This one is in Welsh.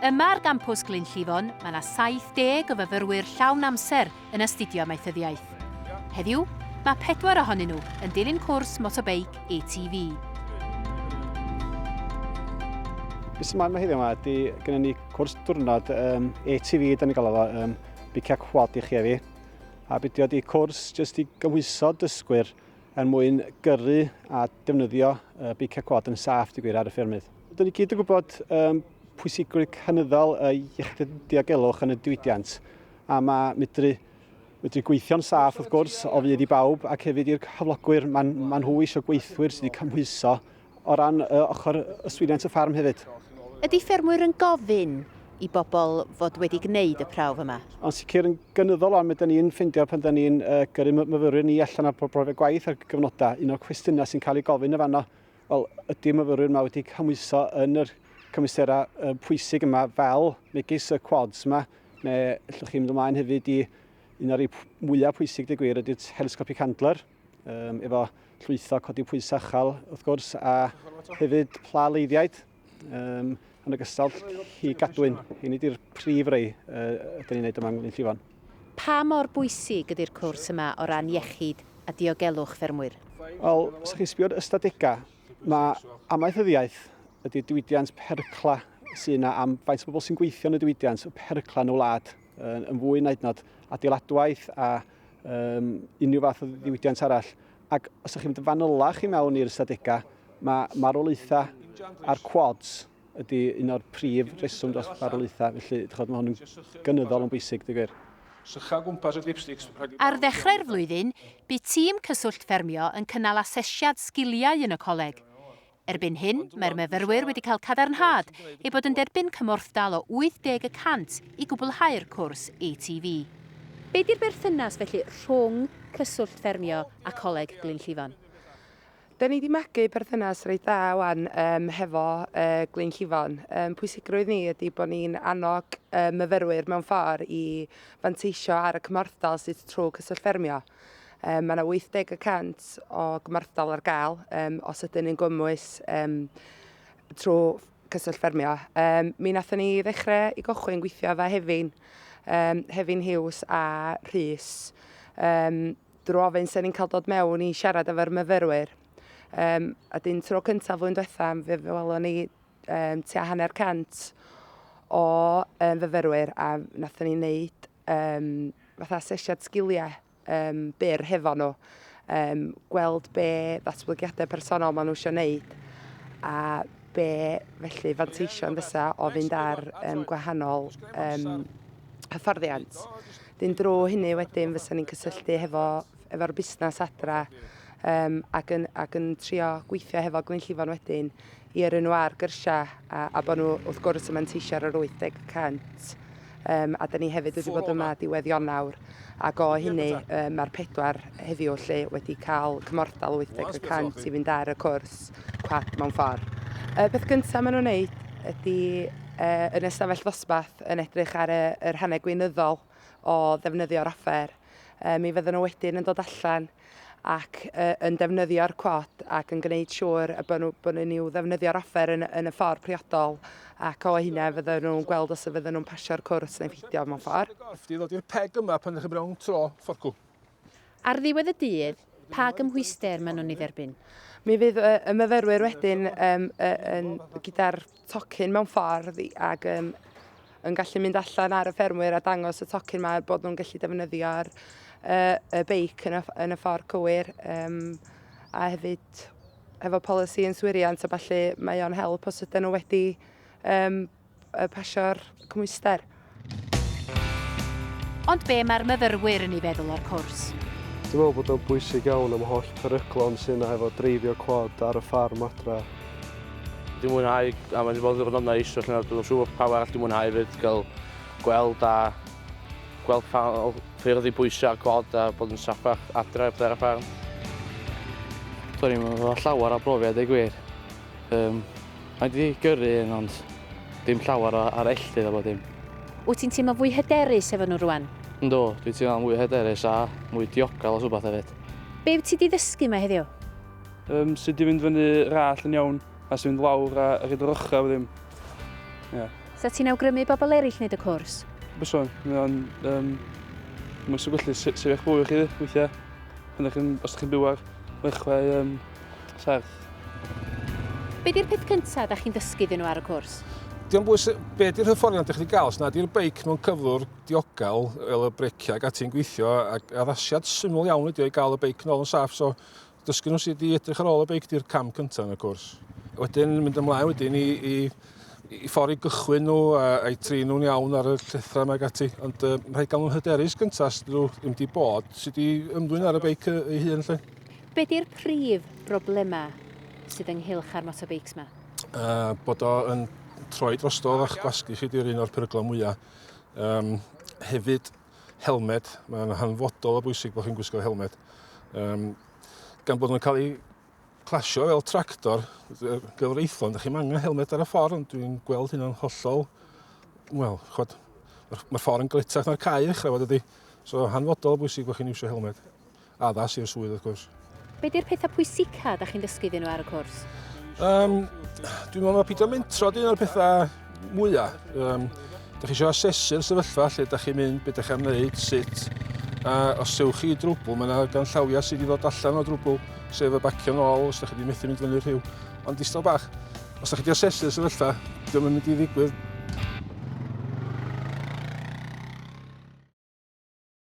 Yma ar gampws Glyn Llifon, mae yna 70 o fyfyrwyr llawn amser yn astudio amaethyddiaeth. Heddiw, mae pedwar ohonyn nhw yn dilyn cwrs motobeic ATV. Beth sy'n maen heddiw yma ydy gyda ni cwrs diwrnod um, ATV, da ni'n gael efo um, biciau quad i chi efi. A bydio di cwrs jyst i gymhwyso dysgwyr er mwyn gyrru a defnyddio uh, beiciau cwad yn saff, di gwir, ar y ffermydd. Dyn ni gyd yn gwybod um, pwysigrwydd cynyddol y iechyd diogelwch yn y diwydiant, a mae medru, medru gweithio'n saff, wrth gwrs, o fydd i bawb, ac hefyd i'r cyflogwyr, maen, maen nhw eisiau gweithwyr sydd wedi cymhwyso O ran uh, ochr yswiriant y ffarm hefyd. Ydy ffermwyr yn gofyn i bobl fod wedi gwneud y prawf yma? Yn sicr yn gynyddol ond mae ni'n ffeindio pan da ni'n uh, gyrru myfyrwyr ni allan ar brofiad gwaith ar gyfnodau, un o'r cwestiynau sy'n cael ei gofyn y fanno, wel, ydy myfyrwyr yma wedi cymwyso yn yr cymwysterau uh, pwysig yma fel megis y quads yma, neu allwch chi mynd ymlaen hefyd i un o'r mwyaf pwysig, dy gwir, ydy'r telescopic handler. Um, efo llwytho codi pwys achal, wrth gwrs, a hefyd pla leiddiaid, um, yn ogystal hi gadwyn. Hyn ydy'r prif rei uh, ydyn ni'n neud yma yng Llifon. Pa mor bwysig ydy'r cwrs yma o ran iechyd a diogelwch ffermwyr? Wel, os ydych chi'n sbio'r ystadegau, mae amaethyddiaeth ydy diwydiant percla sy'n yna am faint o bobl sy'n gweithio yn y diwydiant, y percla yn y wlad, yn fwy naid nod adeiladwaith a um, unrhyw fath o ddiwydiant arall. Ac os ydych chi'n mynd yn fanylach i mewn i'r ystadegau, mae marwolaethau a'r quads ydy un o'r prif reswm dros farwolaethau, felly chod, mae hwn yn gynyddol yn bwysig, dy gwir. Ar ddechrau'r flwyddyn, bu tîm Cyswllt Ffermio yn cynnal asesiad sgiliau yn y coleg. Erbyn hyn, mae'r myfyrwyr wedi cael cadarnhad eu bod yn derbyn cymorthdal o 80 y cant i gwblhau'r cwrs ATV. Be di'r berthynas felly rhwng Cyswllt Ffermio a Coleg Glyn Llifon? Da ni di magu perthynas reit dda wan yym hefo yy Glyn Llifon. Yym pwysigrwydd ni ydi bo ni'n annog yy myfyrwyr mewn ffor i fanteisio ar y cymorthdal sydd trw Cyswllt Ffermio. Mae yna 80 y cant o gymorthdal ar gael os ydyn ni'n gwmwys trwy Cyswllt Ffermio. Mi wnaethon ni ddechrau i gychwyn gweithio efo Hefin, Hefin Hughes a Rhys, drwy ofyn sut ni'n cael dod mewn i siarad efo'r myfyrwyr. A dyn tro cyntaf flwyddyn diwetha', fe welon ni tua hanner cant o fyfyrwyr a wnaethon ni wneud um, fatha asesiad sgiliau um, byr hefo nhw, um, gweld be ddatblygiadau personol maen nhw eisiau wneud a be felly fanteision fysa o fynd ar um, gwahanol um, hyfforddiant. Dyn drwy hynny wedyn fysa ni'n cysylltu hefo, efo'r busnes adra um, ac, yn, ac yn trio gweithio hefo Glyn Llifon wedyn i yrru nhw ar gyrsiau a, a bod nhw wrth gwrs yn manteisio ar yr 80 y cant. Um, a da ni hefyd wedi bod yma diwedd Ionawr ac o hynny um, mae'r pedwar heddiw lle wedi cael cymorthdal 80 y cant i fynd ar y cwrs cwap mewn ffordd. Y peth gyntaf maen nhw'n wneud ydy uh, yn ystafell ddosbarth yn edrych ar y, yr hanner gweinyddol o ddefnyddio'r offer Yy mi fydden nhw wedyn yn dod allan ac yy yn defnyddio'r cod ac yn gwneud siŵr y bod nhw bod nhw'n i'w ddefnyddio'r offer yn yn y ffordd priodol ac o hynna fydden nhw'n gweld os y fydden nhw'n pasio'r cwrs neu pheidio mewn ffordd. Gorff di ddod i'r peg yma pan ydych chi mewn tro fforcw. Ar ddiwedd y dydd, pa gymhwyster maen nhw'n ei dderbyn? Mi fydd y y myfyrwyr wedyn yym yy yn gyda'r tocyn mewn ffordd ac um, yn gallu mynd allan ar y ffermwyr a dangos y tocyn yma bod nhw'n gallu defnyddio'r uh, y beic yn y, yn y ffordd cywir um, a hefyd efo polisi yn swiriant a falle mae o'n help os ydyn nhw wedi um, pasio'r cymwyster. Ond be mae'r myfyrwyr yn ei feddwl o'r cwrs? Dwi'n meddwl bod o'n bwysig iawn am holl peryglon sy'n yna efo dreifio cwad ar y ffarm adra. Dwi'n mwynhau, a mae'n bod yn ddiwrnod neis, felly dwi'n siŵr bod pawb arall dwi'n mwynhau fyd, gael gweld a gweld pa ffyrdd i bwysau ar cwad a bod yn saffach adre ar y ffarm. Do'n i'm efo llawer o brofiad deu gwir. Yym, mae 'di gyrru un ond dim llawer o arelldydd a bob dim. Wyt ti'n teimlo fwy hyderus efo nhw rwan? Yndw, dwi'n teimlo'n fwy hyderus a mwy diogel os wbath hefyd. Be wyt ti 'di ddysgu 'ma heddiw? Yym, sut i fynd fyny yr allt yn iawn a sut i fynd lawr a rhoid yr ochrau a bob dim. Ie. 'Sa ti'n awgrymu i bobl eraill wneud y cwrs? Byswn, mae o'n yym, mae o'n gallu sefyll fwy i chi weithiau pan dach chi'n, os dach chi'n byw ar ddechrau yym, serth. Be di'r peth cyntaf da chi'n dysgu iddyn nhw ar y cwrs? Diolch bwys, be di'r hyfforddiant ydych chi'n gael? Os nad yw'r beic mewn cyflwr diogel, fel y breciau ac ati'n gweithio, ac addasiad syml iawn ydy o i gael y beic nôl yn saff, so dysgu nhw sydd wedi edrych ar ôl y beic di'r cam cyntaf yn y cwrs. Wedyn mynd ymlaen wedyn i, i, i ffordd i gychwyn nhw a, a'i tri nhw'n iawn ar y llethrau yma gati. Ond uh, rhaid gael nhw'n hyderus gyntaf sydd nhw ddim wedi bod, sydd wedi ymddwyn ar y beic ei hun lle. Be di'r prif broblema sydd ynghylch â'r motobeics ma? Uh, bod o yn troi drosto a'ch gwasgu chi di'r un o'r peryglau mwyaf. Um, hefyd, helmed, mae'n hanfodol o bwysig bod chi'n gwisgo helmed. Um, gan bod nhw'n cael eu clasio fel tractor gyfreithlon, ydych chi'n angen helmed ar y ffordd, ond dwi'n gweld hynna'n hollol, wel, chod, mae'r ma ffordd yn gletach na'r cae ddechrau fod ydy. So hanfodol bwysig bod chi'n iwsio helmed. Addas i'r swydd wrth gwrs. Be di'r pethau pwysica da chi'n dysgu iddyn nhw ar y cwrs? Um, dwi'n meddwl mae pidio mentro di un o'r pethau mwyaf. Um, da chi eisiau asesu'r sefyllfa lle da chi'n mynd, beth da chi'n gwneud, sut. A os ewch chi i drwbl, mae yna gan llawiau sydd wedi dod allan o drwbl, sef y bacio nôl os da chi wedi methu mynd fyny'r rhyw. Ond distal bach, os da chi wedi asesu'r sefyllfa, diolch yn mynd i ddigwydd